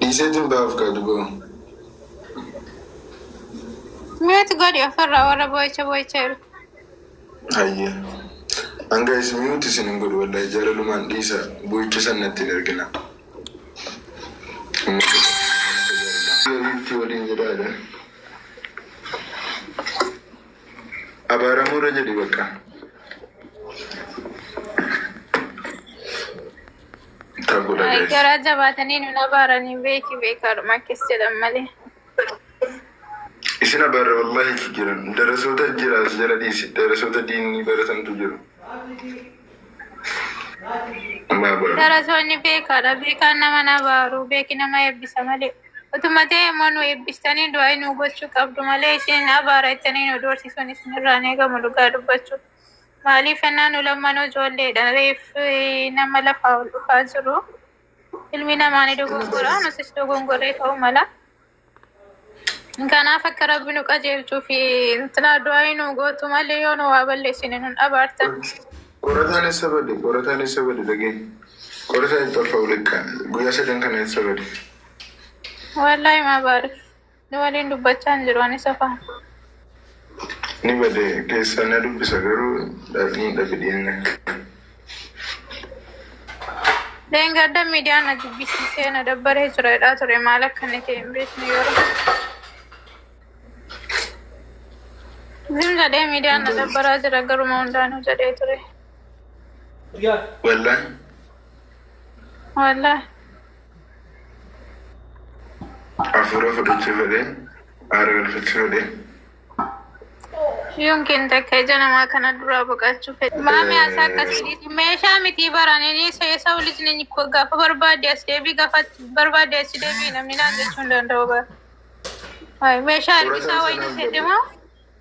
Dhiiseetiin baaf kaa duboo. Mute godhi ofirraa warra boo'icha boo'icha jiru. Hayyee. Hanga isin mute isin hin godhu wallahi jaalalumaan dhiisa boo'icha san natti hin ergina. Itti waliin jedhaadha. Abaaramuu irra jedhi bakka. Bittaa godha Ay, guys. garaa jabaatanii nu nabaaranii beeki beekaadhuma akkas jedhan malee. Isin abarra wallahi itti jiran. Darasoota jira as jala dhiisi. Darasoota diinni baratantu jiru. Amma abarra. Darasoonni beekaadha. Beekaan nama nabaaru. Beeki nama eebbisa malee. Utuma ta'e immoo nu eebbistanii du'aa nu gochuu qabdu malee isin abaara jettanii nu doorsisuun isin irraa hin eegamu dhugaa dubbachuu. Maaliif jennaan nu lammanuu ijoolleedha. Reeffi nama lafaa ol dhufaa jiru. Ilmi namaa ni dogongora, nutis dogongorree ta'uu mala. Kanaaf akka rabbi nu qajeelchuu fi intinaa du'aayii nu gootu malee yoo nu waa balleessine nun abaartan. Qorataan eessa bade? Qorataan eessa bade? Dhageenya. Qorataan hin xaffa ulikkaan. Guyyaa sadan kana eessa bade? Wallaahi maa baarif. Ni waliin dubbachaa hin jiru anis afaan. Ni bade keessaa na dubbisa garuu dhaadhni dhabe dhiyeenya kana. Dheengadda miidiyaan na jibbisiisee na dabbaree jira jedhaa ture maal akka inni ta'e hin beekne yeroo. Zim jedhee miidiyaan na dabbaraa jira garuma hundaanuu jedhee ture. Wallaan Wallahi. Afuura fudhachuu fedhee aara galfachuu fedhee. Yoon keen takka ija namaa kana duraa boqachuu fedhe. Maami asaa akkasii meeshaa mitii baranini seesaa ulijni gaafa barbaade as deebii gaafa barbaade as deebii namni naan jechuu hin danda'u bara. Meeshaa ergisaa wayii jedhama.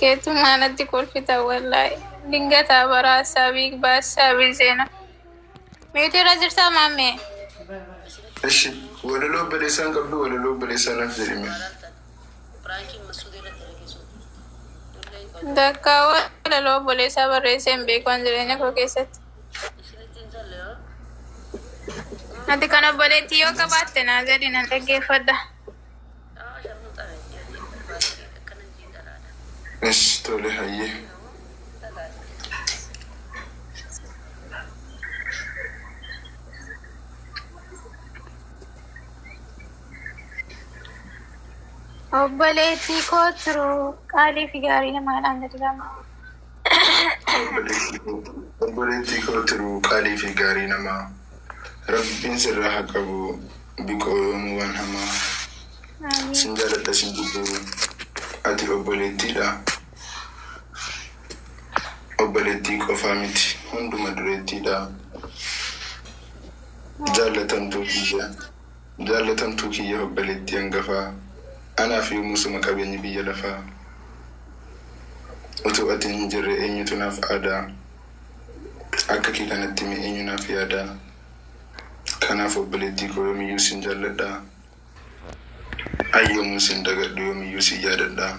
Keetu maalatti kolfita wallahi. Dingataa bara saabii baas saabii seena. Meetii irra jirtaa maammee? Ishi walaloo baleessaan qabdu walaloo baleessaa naaf jedhime. Dakkaa walaloo obboleessaa barreessee hin beeku waan jireenya koo keessatti. Ati kan obboleettii yoo qabaatte naa gadi nan dhaggeeffadha. Yes, tole hayyee. Obboleettii koo tiruu qaalii fi gaarii namaadhaan gadi lama. Obboleettii koo tiruu qaalii fi gaarii namaa rabbiin sirraa haa qabu biqoo yoomuu waan hamaa sin jaaladha sin jibbuu ati obboleettiidha obboleettii qofaa miti hunduma dureettiidha jaallatamtuu biyya. Jaallatamtuu kiyya obbaleettii angafaa Anaaf yoomuu suma qabeenyi biyya lafaa Utuu atiin hin jirree eenyutu naaf aadaa Akka kee kanatti mee eenyu naaf yaadaa Kanaaf obbaleettii koo yoomiyyuu sin jaalladhaa An yoomuun sin dagadhu yoomiyyuu sin yaadadhaa.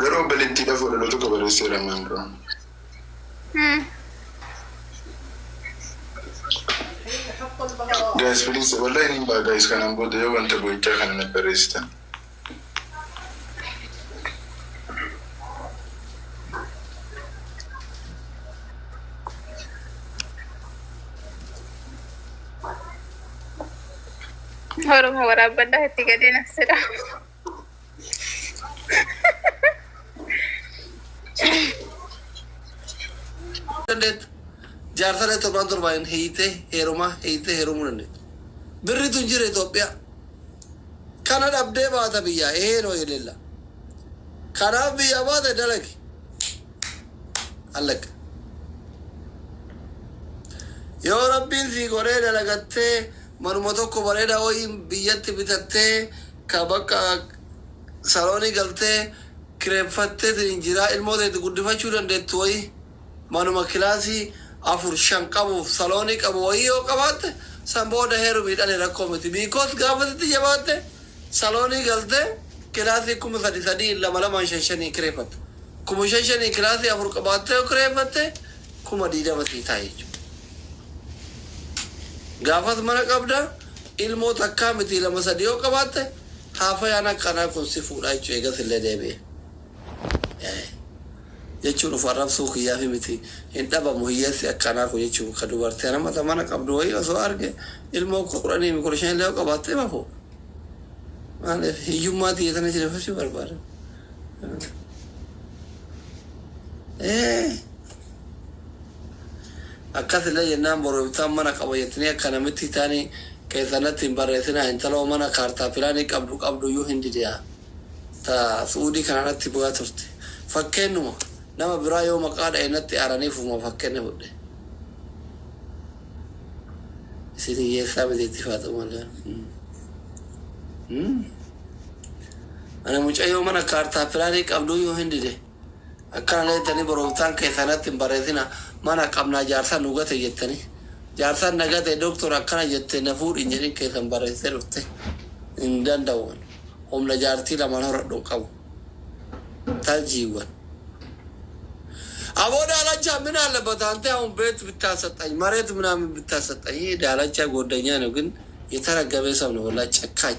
Garuu obboleettiidhaaf walaloo tokko barreesseera ammaan dura. Guys please wallahi niin ba'a guys kanaan booda yoo wanta boo'ichaa kana naf barreessitan. Oromo waraabbadhaa itti gadee nassedha. dandeettu. Jaarsalee torbaan torbaan hiitee heerumaa hiitee heerumuu dandeettu. Birritu hin jira Itoophiyaa. Kana dhabdee baata biyyaa ehee noo yelella. Kanaaf biyyaa baate dalagi. Allaq. Yoo rabbiin sii godhee dalagattee manuma tokko bareeda woyii biyyatti bitattee ka bakka saloonii galtee kireffattee siniin jiraa ilmoo tee itti guddifachuu dandeettu woyii manuma kilaasii afur shan qabuuf saloonii qabu woyii yoo qabaatte san booda heerumii dhali rakkoo miti because gaafa sitti jabaatte saloonii galtee kilaasii kuma sadi sadiin lama lamaan shan shaniin kireffatta Kuma shan shanii kilaasii afur qabaattee yoo kireeffatte kuma digdama sii ta'a jechuudha. Gaafas mana qabda, ilmoo takkaa mitii lama sadii yoo qabaatte haafayaan akka anaa kun si fuudha jechuudha eegas illee deebi'ee. Jechuun of arrabsuu kiyyaafi miti hin dhabamu hiyyeessi akka anaa kun jechuun ka dubartii anama ta mana qabdu wayii osoo arge ilmoo kudhaniifi kudha shan illee yoo qabaatte hima fuudha. Maaliif hiyyummaa tiyya tana isin hin hubachuu barbaada. Eh. Akkas illee jennaan boru ibsaan mana qaba jettanii akka namitti isaanii keessan natti hin barreessinaa intaloo mana kaartaa pilaanii qabdu qabdu iyyuu hin didi'a. Ta su'uudii kana natti bu'aa turte. Fakkeennuma nama biraa yoo maqaa dha'e natti aaranii ofuma fakkenne fudhe. Isin hiyyeessaa miti itti faaxuma illee. Hmm. Hmm. Ani mucayyoo mana kaartaa pilaanii qabduu yoo hin dide akkana leettanii boromtaan keessan natti hin barreessinaa mana qabnaa jaarsaan nu gate jettanii jaarsaan na gate doktor akkana jette na fuudhi hin jedhin keessan barreessitee dhufte hin danda'u ani humna jaartii lamaan horadhu hin qabu taljiiwwan Aboo daalachaa min aallabbat antee aun beet bittaa saxxany mareet minaamin bittaa saxxany daalachaa gooddanyaa nogin yetaraggabee sabna wallaa cakkaany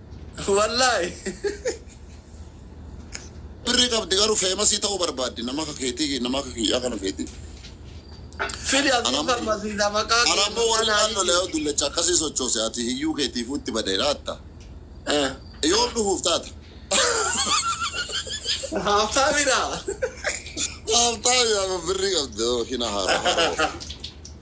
Wallaahi. Birrii qabdi garuu feemasii ta'uu barbaaddi nama akka keetii nama akka kiyyaa kana feeti. Fidi abdii Anam- farmasiisa maqaa Ana ammoo warri kanaa naannoo Lee'oo dullacha akkasii sochoose ati hiyyuu keetiifuu itti badee laatta. Eh. Yoom dhufuuf taata? Haaftaamidha. Haaftaa yaama birrii qabdi hina haara haara.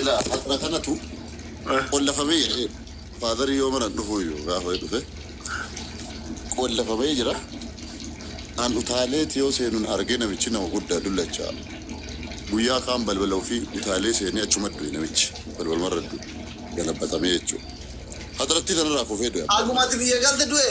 Ilaa har'a kanatu qollafamee jira. Faadarii yoo mana dhufuu iyyuu gaafa dhufe qollafamee jira. An utaalee yoo seenuun argee namichi nama guddaa dullachaa. Guyyaa kaan balbala ofii utaalee seenee achuma du'e namichi balbalumarra du'e galabbatamee jechuudha. Hadarattii tanarraa kufee du'e. Agumati biyya galte du'e.